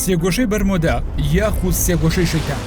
سێگۆشەی بەرمۆدا یاخود سێگۆشەی شەیتان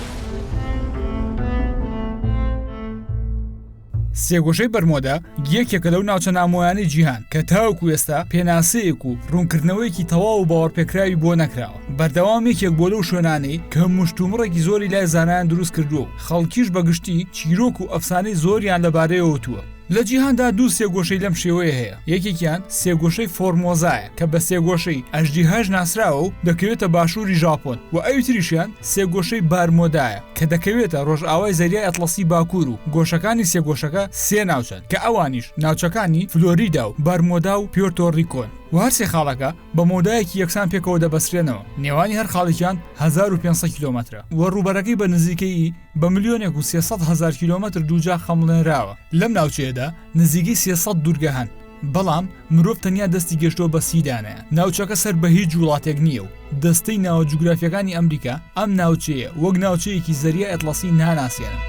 سێگۆشەی بەرمۆدا یەکێکە لەو ناوچە نامۆیانی جیهان کە تاوکو ئێستا پێناسەیەک و ڕوونکردنەوەیەکی تەواو و باوەڕپێکراوی بۆ نەکراوە بەردەوام یەکێک بۆ لەو شوێنانەی کە مشتومڕێکی زۆری لای زانایان دروست کردووە و خەڵکیش بەگشتی چیرۆک و ئەفسانەی زۆریان لەبارەیەوەتووە لە جیهاندا دوو سێگۆشەی لەم شێوەیە هەیە، یەکێکیان سێگۆشەی فۆرمۆزایە کە بە سێگۆشەی ئەژدیهاش ناسراوە و دەکەوێتە باشووری ژاپۆن و ئەوی تریشیان سێگۆشەی بارمۆدایە کە دەکەوێتە ڕۆژئاوای زەریای ئەتڵەسی باکوور و گۆشەکانی سێگۆشەکە سێ ناوچەن کە ئەوانیش ناوچەکانی فلۆریدا و بەرمۆدا و پیۆرتۆ ڕیکۆن و هەر سێ خاڵەکە بە مەودایەکی یەکسان پێکەوە دەبەسترێنەوە نێوانی هەر خاڵێکیان هەزار و پێنج سەد کیلۆمەترە و ڕووبەرەکەی بە نزیکەیی بە ملیۆنێک و سێ سەد هەزار کیلۆمەتر دووجا خەمڵێنراوە لەم ناوچەیەدا نزیکەی سێ سەد دوورگە هەن بەڵام مرۆڤ تەنیا دەستی گەشتووە بە سی دانەیان ناوچەکە سەر بە هیچ وڵاتێک نییە و دەستەی ناوە جوگرافیەکانی ئەمریکا ئەم ناوچەیە وەک ناوچەیەکی زەریای ئەتڵەسی ناناسێنن.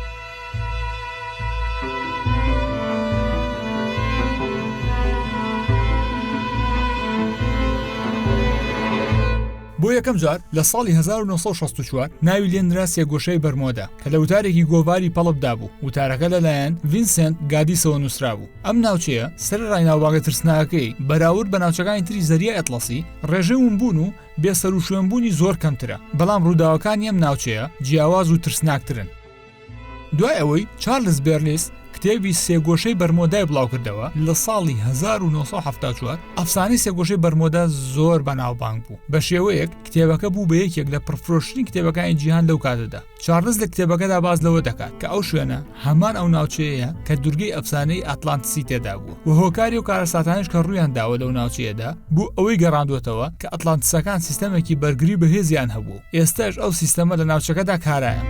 بۆ یەکەم جار لە ساڵی 1964 ناوی لێ نرا سێگۆشەی بەرمۆدە کە لە وتارێکی گۆڤاری پەڵپدا بوو، وتارەکە لەلایەن ڤینسێنت گادیسەوە نووسرابوو. ئەم ناوچەیە سەرەڕای ناوبانگە ترسناکەکەی، بەراورد بە ناوچەکانی تری زەریای ئەتڵەسی، ڕێژەی ونبوون و بێسەروشوێنبوونی زۆر کەمترە، بەڵام ڕووداوەکانی ئەم ناوچەیە جیاواز و ترسناکترن. دوای ئەوەی چارلز بێرلیس کتێبی سێگۆشەی بەرمۆدای بڵاوکردەوە لە ساڵی 1970 ئەفسانەی سێگۆشەی بەرمۆدا زۆر بەناوبانگ بوو بە شێوەیەک کتێبەکە بوو بە یەکێک لە پرفرۆشتنی کتێبەکانی جیهان لەو کاتەدا چارلز لە کتێبەکەدا باز لەوە دەکات کە ئەو شوێنە هەمان ئەو ناوچەیە کە دورگەی ئەفسانەی ئەتلانتسی تێدا بوو و هۆکاری و کارەساتانش کە ڕویان داوە لەو ناوچەیەدا بوو ئەوەی گەڕاندوێتەوە کە ئەتلانتسەکان سیستەمێکی بەرگری بەهێزیان هەبوو ئێستەش ئەو سیستەمە لە ناوچەکەدا کارایە.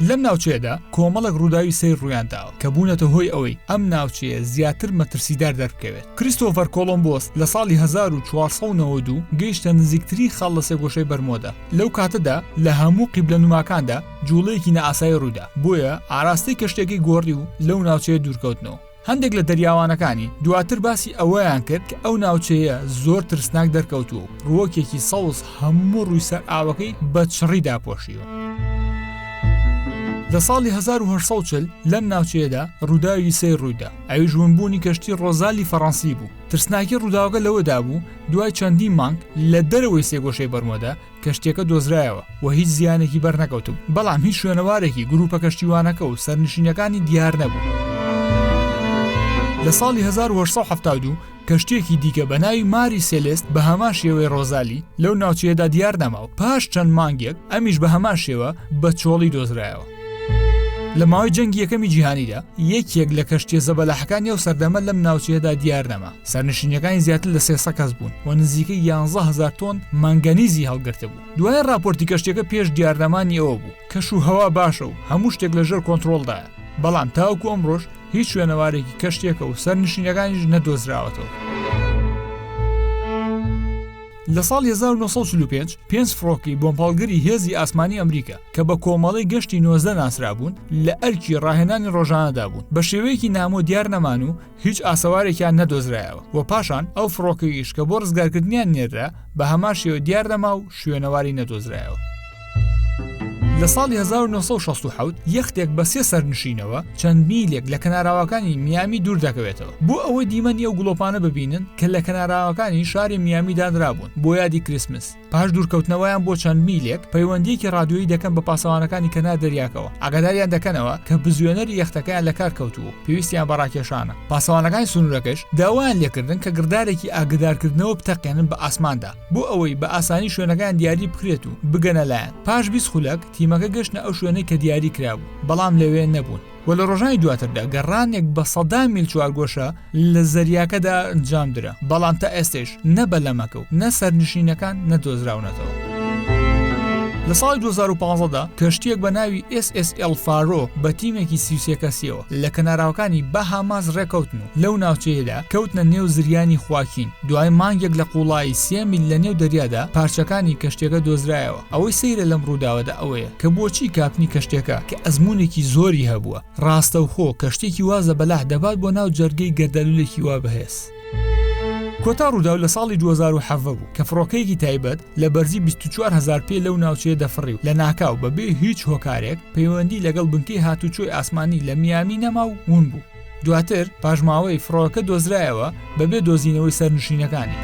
لەم ناوچەیەدا کۆمەڵک ڕووداوی سەیر ڕویان داوە کە بوونەتە هۆی ئەوەی ئەم ناوچەیە زیاتر مەترسیدار دەربکەوێت کریستۆفەر کۆلمبۆس لە ساڵی 1992 گەیشتە نزیکترین خاڵ لە سێگۆشەی بەرمۆدا لەو کاتەدا لە هەموو قیبلە نوماکاندا جوڵەیەکی نەئاسایی ڕوودا بۆیە ئاراستەی کەشتێکی گۆڕی و لەو ناوچەیە دوورکەوتنەوە هەندێک لە دەریاوانەکانی دواتر باسی ئەوەیان کرد کە ئەو ناوچەیە زۆر ترسناک دەرکەوتووە و ڕووەکێکی سەوز هەموو ڕووی سەر ئاوەکەی بە چڕی داپۆشیوە. لە ساڵی 1940 لەم ناوچەیەدا ڕووداوی سەیر ڕوویدا ئەویش ونبوونی کەشتی ڕۆزالی فەڕەنسی بوو ترسناکی ڕووداوەکە لەوەدا بوو دوای چەندین مانگ لە دەرەوەی سێگۆشەی بەرمۆدا کەشتیەکە دۆزرایەوە و هیچ زیانێکی بەرنەکەوتوو بەڵام هیچ شوێنەوارێکی گروپە کەشتیوانەکە و سەرنشینەکانی دیار نەبوو. لە ساڵی 1970 کەشتێکی دیکە بە ناوی ماری سێلست بە هەمان شێوەی ڕۆزالی لەو ناوچەیەدا دیار نەماو پاش چەند مانگێک ئەمیش بە هەمان شێوە بە چۆڵی دۆزرایەوە. لە ماوەی جەنگی یەکەمی جیهانیدا یەکێک لە کەشتە زەبەلاحەکانی ئەو سەردەمە لەم ناوچەیەدا دیار نەما سەرنشینەکانی زیاتر لە سێسە کەس بوون و نزیکە یانزە هزار تۆن مانگەنیزی هەڵگرتە بوو دوای ڕاپۆرتی کەشتەکە پێش دیارنەمانی ئەوە بوو کەش و هەوا باشە و هەموو شتێک لەژێر کۆنتترۆلدا بەڵام تاوکو ئەمڕۆژ هیچ شوێنەوارێکی کەشتێکە و سەرنشینەکانیش نەدۆزراوەتەوە. لە ساڵی هەزار و نۆ سەد و چل و پێنج، پێنج فڕۆکەی بۆمپاڵگری هێزی ئاسمانی ئەمریکا، کە بە کۆمەڵەی گەشتی نۆزدە ناسرابوون، لە ئەرکی ڕاهێنانی ڕۆژانەدا بوون، بە شێوەیەکی نامۆ دیار نەمان و هیچ ئاسەوارێکیان نەدۆزرایەوە و پاشان ئەو فڕۆکەیش کە بۆ ڕزگارکردنیان نێررا، بە هەمان شێوە دیار نەما و شوێنەواری نەدۆزرایەوە. لە ساڵی 1967 یەختێک بە سێ سەرنشینەوە چەند میلێک لە کەناراوەکانی میامی دوور دەکەوێتەوە بۆ ئەوەی دیمەنی ئەو گڵۆپانە ببینن کە لە کەناراوەکانی شاری میامی دانرابوون بۆ یادی کریسمس پاش دوورکەوتنەوەیان بۆ چەند میلێک پەیوەندیەکی رادیۆیی دەکەن بە پاسەوانەکانی کەنار دەریاکەوە ئاگاداریان دەکەنەوە کە بزوێنەری یەختەکەیان لە کار کەوتوو و پێویستیان بە راکێشانە پاسەوانەکانی سنوورەکەش داوایان لێکردن کە گڕدارێکی ئاگدارکردنەوە بتەقێنن بە ئاسماندا بۆ ئەوەی بە ئاسانی شوێنەکەیان دیاری بکرێت و بگەنە لایان پاش بیست خولەک تیمەکە گەشتنە ئەو شوێنەی کە دیاری کرابوو بەڵام لەوێ نەبوون و لە ڕۆژانی دواتردا گەڕانێک بە سەدان میل چوارگۆشە لە زەریاکەدا ئەنجام درا بەڵام تا ئێستەش نە بەلەمەکە و نە سەرنشینەکان نەدۆزراونەتەوە. لە ساڵی 2015دا کەشتییەک بە ناوی ئێس ئێس ئێڵ فارۆ بە تیمێکی سی و سێ کەسییەوە لە کەناراوەکانی باهاماس ڕێکەوتن و لەو ناوچەیەدا کەوتنە نێو زریانی خواکین، دوای مانگێک لە قوڵایی سێ میل لە نێو دەریادا پارچەکانی کەشتیەکە دۆزرایەوە، ئەوەی سەیرە لەم ڕووداوەدا ئەوەیە کە بۆچی کاپنی کەشتیەکە کە ئەزموونێکی زۆری هەبووە ڕاستەوخۆ کەشتیەکی وا زەبەلاح دەبات بۆ ناو جەرگەی گەردەلوولێکی وا بەهێز. کۆتا ڕووداو لە ساڵی دوو هەزار و حەڤدە بوو کە فڕۆکەیەکی تایبەت لە بەرزی 24 هەزار پێ لەو ناوچەیە دەفڕی و لە ناکاو بەبێ هیچ هۆکارێک پەیوەندی لەگەڵ بنکەی هاتوچۆی ئاسمانی لە میامی نەما و ون بوو دواتر پاشماوەی فڕۆکە دۆزرایەوە بەبێ دۆزینەوەی سەرنشینەکانی.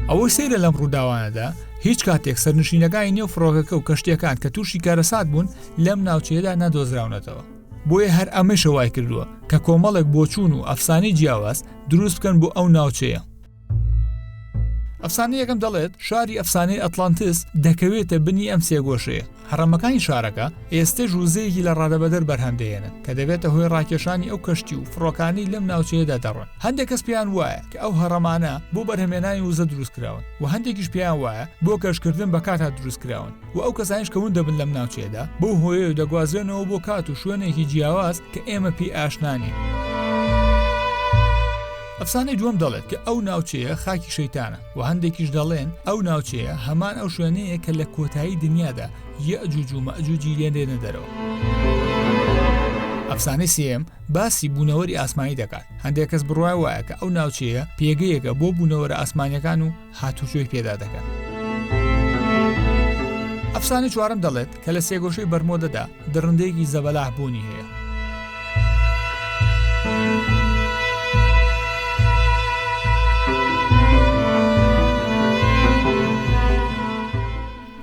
ئەوەی سەیرە لەم ڕووداوانەدا هیچ کاتێک سەرنشینەکانی نێو فڕۆکەکە و کەشتەکان کە تووشی کارەسات بوون لەم ناوچەیەدا نەدۆزراونەتەوە بۆیە هەر ئەمەیشە وای کردووە کە کۆمەڵێک بۆچوون و ئەفسانەی جیاواز دروست بکەن بۆ ئەو ناوچەیە ئەفسانە یەکەم دەڵێت شاری ئەفسانەی ئەتلانتس دەکەوێتە بنی ئەم سێگۆشەیە هەڕەمەکانی شارەکە ئێستا ژوزەیەکی لە ڕادەبەدەر بەرهەمدەێنن کە دەبێتە هۆی ڕاکێشانی ئەو کەشتی و فڕۆکانی لەم ناوچەیەدا دەڕۆن هەندێک کەس پێیان وایە کە ئەو هەڕەمانە بۆ بەرهەمێنانی وزە دروستکراون و هەندێکیش پێیان وایە بۆ کەشکردن بە کاتا دروستکراون و ئەو کەسانیش کە ون دەبن لەم ناوچەیەدا بەو هۆیە و دەگوازرێنەوە بۆ کات و شوێنێکی جیاواز کە ئێمە پێی ئاشنانین. ئەفسانەی دووەم دەڵێت کە ئەو ناوچەیە خاکی شەیتانە و هەندێکیش دەڵێن ئەو ناوچەیە هەمان ئەو شوێنەیە کە لە کۆتایی دنیادا یەجوج و مەجوجی لێنێنە دەرەوە. ئەفسانەی سێم باسی بوونەوەری ئاسمانی دەکات هەندێک کەس بڕای وایە کە ئەو ناوچەیە پێگەیەکە بۆ بوونەوەرە ئاسمانەکان و هاتوچۆی پێدا دەکەن. ئەفسانەی چوارەم دەڵێت کە لە سێگۆشەی بەرمۆدەدا دڕندەیەکی زەبەلاح بوونی هەیە.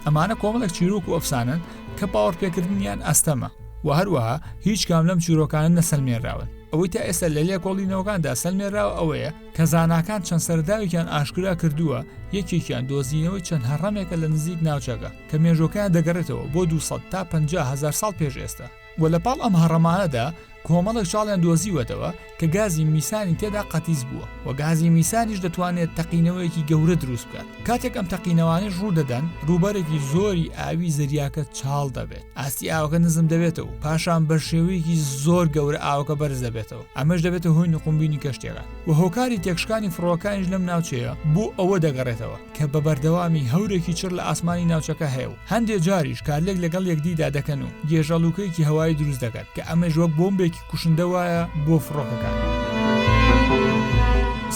ئەمانە کۆمەڵێک چیرۆک و ئەفسانن کە پاوەڕپێکردنیان ئەستەمە و هەروەها هیچ کام لەم چیرۆکانە نەسەلمێنراون ئەوەی تا ئێستا لە لێکۆڵینەوەکاندا سەلمێراوە ئەوەیە کە زاناکان چەند سەرەداوێکیان ئاشکرا کردووە، یەکێکیان دۆزینەوەی چەند هەڕەمێکە لە نزیک ناوچەکە، کە مێژووەکەیان دەگەڕێتەوە بۆ دوو سەد تا پەنجا هەزار ساڵ پێش ئێستا، و لە پاڵ ئەم هەڕەمانەدا کۆمەڵێک چاڵیان دۆزیوەتەوە کە گازی میسانی تێدا قەتیس بووە، و گازی میسانیش دەتوانێت تەقینەوەیەکی گەورە دروست بکات، کاتێک ئەم تەقینەوانەیش ڕوودەدەن، ڕووبەرێکی زۆری ئاوی زەریاکە چاڵ دەبێت، ئاستی ئاوەکە نزم دەبێتەوە و پاشان بە شێوەیەکی زۆر گەورە ئاوەکە بەرز دەبێتەوە. ئەمەش دەبێتە هۆی نقومبینی کەشتیەکان و هۆکاری تێکشکانی فڕۆکانیش لەم ناوچەیە بۆ ئەوە دەگەڕێتەوە کە بە بەردەوامی هەورێکی چڕ لە ئاسمانی ناوچەکە هەیە و هەندێ جاریش کارلێک لەگەڵ یەکدیدا دەکەن و گێژەڵووکەیەکی هەوایی دروست دەکەن کە ئەمەش وەک بۆمبێکی کوشندە وایە بۆ فڕۆکەکان.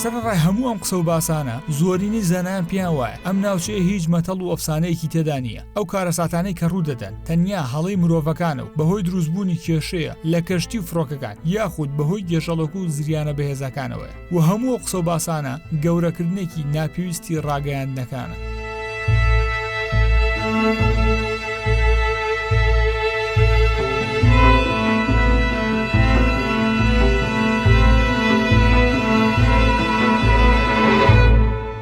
سەرەڕای هەموو ئەم قسە و باسانە زۆرینەی زانایان پێیان وایە ئەم ناوچەیە هیچ مەتەڵ و ئەفسانەیەکی تێدا نییە، ئەو کارەساتانەی کە ڕوودەدەن تەنیا هەڵەی مرۆڤەکانە و بەهۆی دروستبوونی کێشەیە لە کەشتی و فڕۆکەکان یاخود بەهۆی گێژەڵک و زریانە بەهێزەکانەوەە و هەموو قسە و باسانە گەورەکردنێکی ناپێویستی ڕاگەیاندنەکانە.